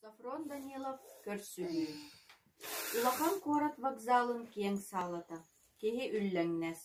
Софрон Данилов көрсүһүү Улахан куорат вокзалын киэҥ саалата. Киһи үллэҥнэс.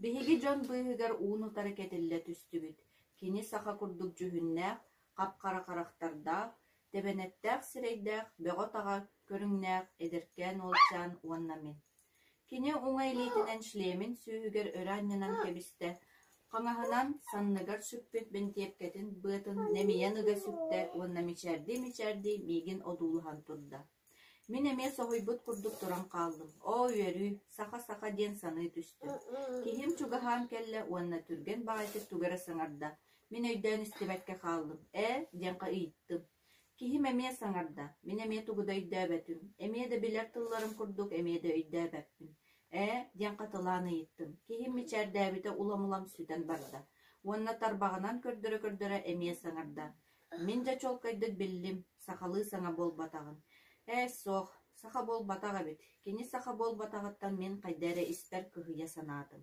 Биһиги дьон быыһыгар уун-утары кэтиллэ түстүбүт. Кини саха курдук дьүһүннээх, хап-хара харахтардаах, тэбэнэттээх сирэйдээх, бөҕө-таҕа көрүҥнээх эдэркээн уолчаан уонна мин Кини уҥа илиитинэн шлемин сүөһүгэр өрө анньынан кэбистэ, хаҥаһынан, санныгар сүппүт бэнтиэпкэтин быатын нэмийэн ыга сүктэ уонна мичээрдии-мичээрдии миигин одуулаһан турда: «Мин эмиэ соһуйбут курдук туран хааллым, оо үөрүү, саха-саха» диэн саныы түстүм. Киһим чугаһаан кэллэ уонна түргэн баҕайытык тугу эрэ саҥарда, мин өйдөөн истибэккэ хааллым «ээ» диэххэ ыйыттым. Киһим эмиэ саҥарда: «Мин эмиэ тугу да өйдөөбөтүм, эмиэ да билэр тылларым курдук эмиэ да өйдөөбөппүн, ээ» диэн хатылаан ыйыттым. Киһим мичээрдээбитэ улам-улам сүтэн барда уонна тарбаҕынан көрдөрө-көрдөрө эмиэ саҥарда: «Мин дьэ чуолкайдык биллим, сахалыы саҥа буолбатаҕын. Ээ, суох, саха буолбатах эбит, кини саха буолбатаҕыттан мин хайда эрэ испэр кыһыйа санаатым»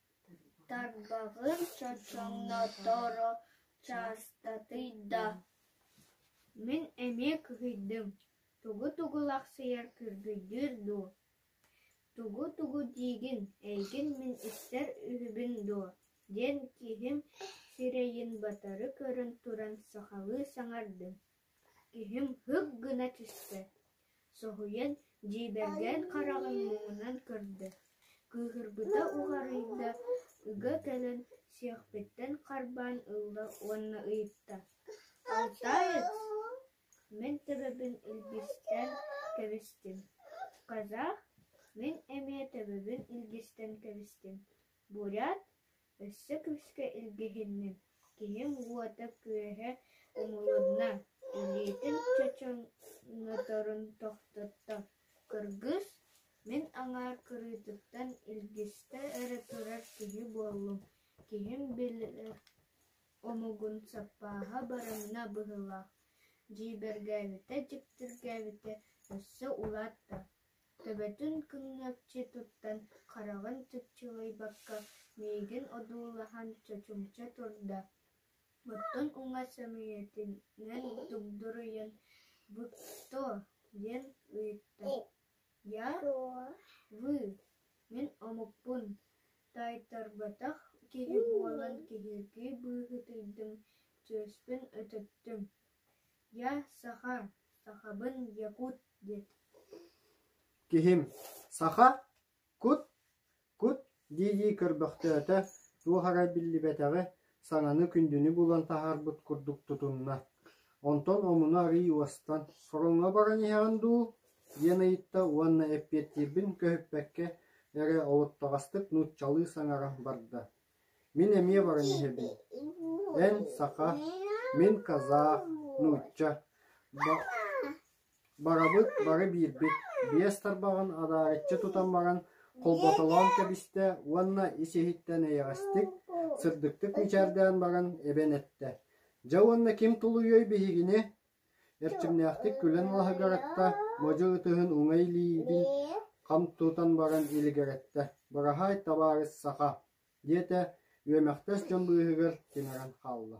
Тарбаҕын чочоҥноторо чаастатый да, мин эмиэ кыһыйдым: «Тугу-тугу лахсыйар күргүйдүүр дуу, тугу-тугу диигин, эйигин мин истэр үһүбүн дуо?» диэн киһим сирэйин батары көрөн туран сахалыы саҥардым Киһим һык гына түстэ, соһуйан, дьиибэргээн хараҕын муҥунан көрдө, кыыһырбыта уҕарыйда, ыга кэлэн сиэхпиттэн харбаан ылла уонна ыйытта: «Алтаайыс, мин төбөбүн илгистэн кэбистим, казах, мин эмиэ төбөбүн илгистэн кэбистим, бурят, Өссө күүскэ илгиһинним, киһим уота-күөһэ умулунна, илиитин чочоноторун тохтотто, кыргыс, мин аҥаар кырыытыттан илгистэ эрэ турар киһи буоллум, киһим били омугун саппааһа баранна быһыылаах, дьиибэргээбитэ-дьиктиргээбитэ өссө улаатта Төбөтүн күҥҥэччи туттан, хараҕын чыпчылыйбакка, миигин одуулаһан чочумча турда, оттон уҥа сөмүйэтинэн тугдуруйан «Будто?» диэн ыйытта. «Я? Вы? Мин омукпун, таайтарбатах киһи буолан киһиргии быыһытыйдым, чүөспүн өтөттүм. Я саха, Сахабын якут диэт Киһим саха кут кут дии-дии көрбөхтөөтө, туох эрэ биллибэтэҕи, саҥаны күндүнү булан таһаарбыт курдук тутунна. Онтон омуну арыый уостан «Сороҥҥо баран иһэҕин дуу?» диэн ыйытта уонна эппиэттиирбин көһүппэккэ эрэ олоттоҕостук нууччалыы саҥаран барда. Мин эмиэ баран иһэбин эн, саха, мин, казах, нуучча барабыт бары биирбит, биэс тарбаҕын адаарыччы тутан баран холботолоон кэбистэ уонна ис иһиттэн эйэҕэстик, сырдыктык мичээрдээн баран эбэн эттэ: «Дьэ уонна ким тулуйуой биһигини?» Эрчимнээхтик күлэн лаһыгыратта, модьу ытыһын уҥай илиибин хам тутан баран илигэрэттэ: «Быраһаай, табаарыс саха!» диэтэ, үөмэхтэс дьон быыһыгар тимирэн хаалла